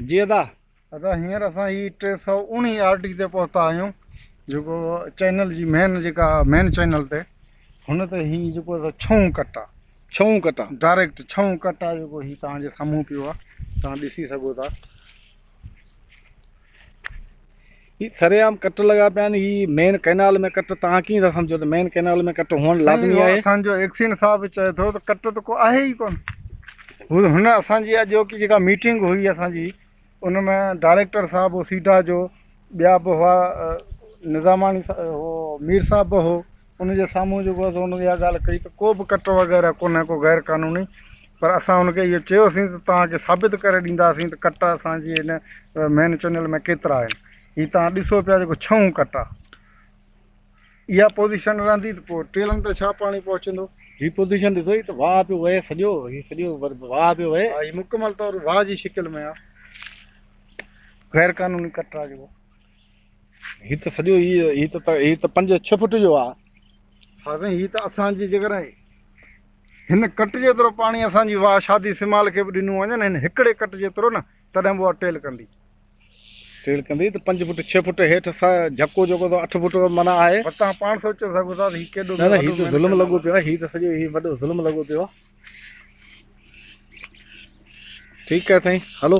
جي ادا ادا هينئر اسان هي 319 آر ٽي تي پهتا آهيون جيڪو چينل جي مين جيڪا مين چينل تي هن تي هي جيڪو ڇهون ڪٽ آ ڇهون ڪٽ آ ڊائريڪٽ ڇهون ڪٽ آ جيڪو هي تان جي سامهون پيو آ تان ڏسي سگهو ٿا هي سرعام ڪٽ لڳا پيا آهن هي مين ڪئنال ۾ ڪٽ توهان ڪيئن ٿا سمجهو ته مين ڪئنال ۾ ڪٽ هئڻ لازمي آهي اسان جو ايڪسين صاحب به چئي ٿو ته ڪٽ ته ڪو آهي ئي ڪون هو هن اسان جي اڄوڪي جيڪا ميٽنگ هئي اسان جي ان ۾ ڊائريڪٽر صاحب هو سيڊا جو ٻيا به هئا نظاماڻي هو مير صاحب به هو ان جي سامهون جيڪو هو ان اها ڳالهه ڪئي ته ڪو به ڪٽ وغيره ڪونهي ڪو غير قانوني پر اسان هن کي اهو چيوسين ته توهان کي ثابت ڪري ڏينداسين ته ڪٽا اسان جي هن مين چئنل ۾ ڪيترا آهن هي توهان ڏسو پيا جيڪو ڇهون ڪٽا اها پوزيشن رهندي ته پوء ٽيلن تي ڇا پاڻي پهچندو هي پوزيشن ڏسو هي ته واهه پيو وهي سڄو هي سڄو واهه پيو وهي هي مڪمل طور واهه جي شڪل ۾ آهي غير قانوني ڪٽا جيڪو هي ته سڄو هي هي ته هي ته 5 6 فوٽ جو آهي ها سائين هي ته اسان جي جيڪڏهن هن ڪٽ جيترو پاڻي اسان جي واهه شادي سمال کي به ڏنو وڃن هن هڪڙي ڪٽ جيترو نه تڏهن به اها ٽيل ڪندي. ٽيل ڪندي ته پنج فٽ ڇهه فٽ هيٺ سا جهڪو جيڪو ته اٺ فٽ معنيٰ آهي. پر توهان پاڻ سوچي سگهو ٿا ته هي ڪيڏو نه نه هي ته ظلم لڳو پيو آهي هي ته سڄو هي وڏو ظلم لڳو پيو آهي. ٺيڪ آهي سائين هلو.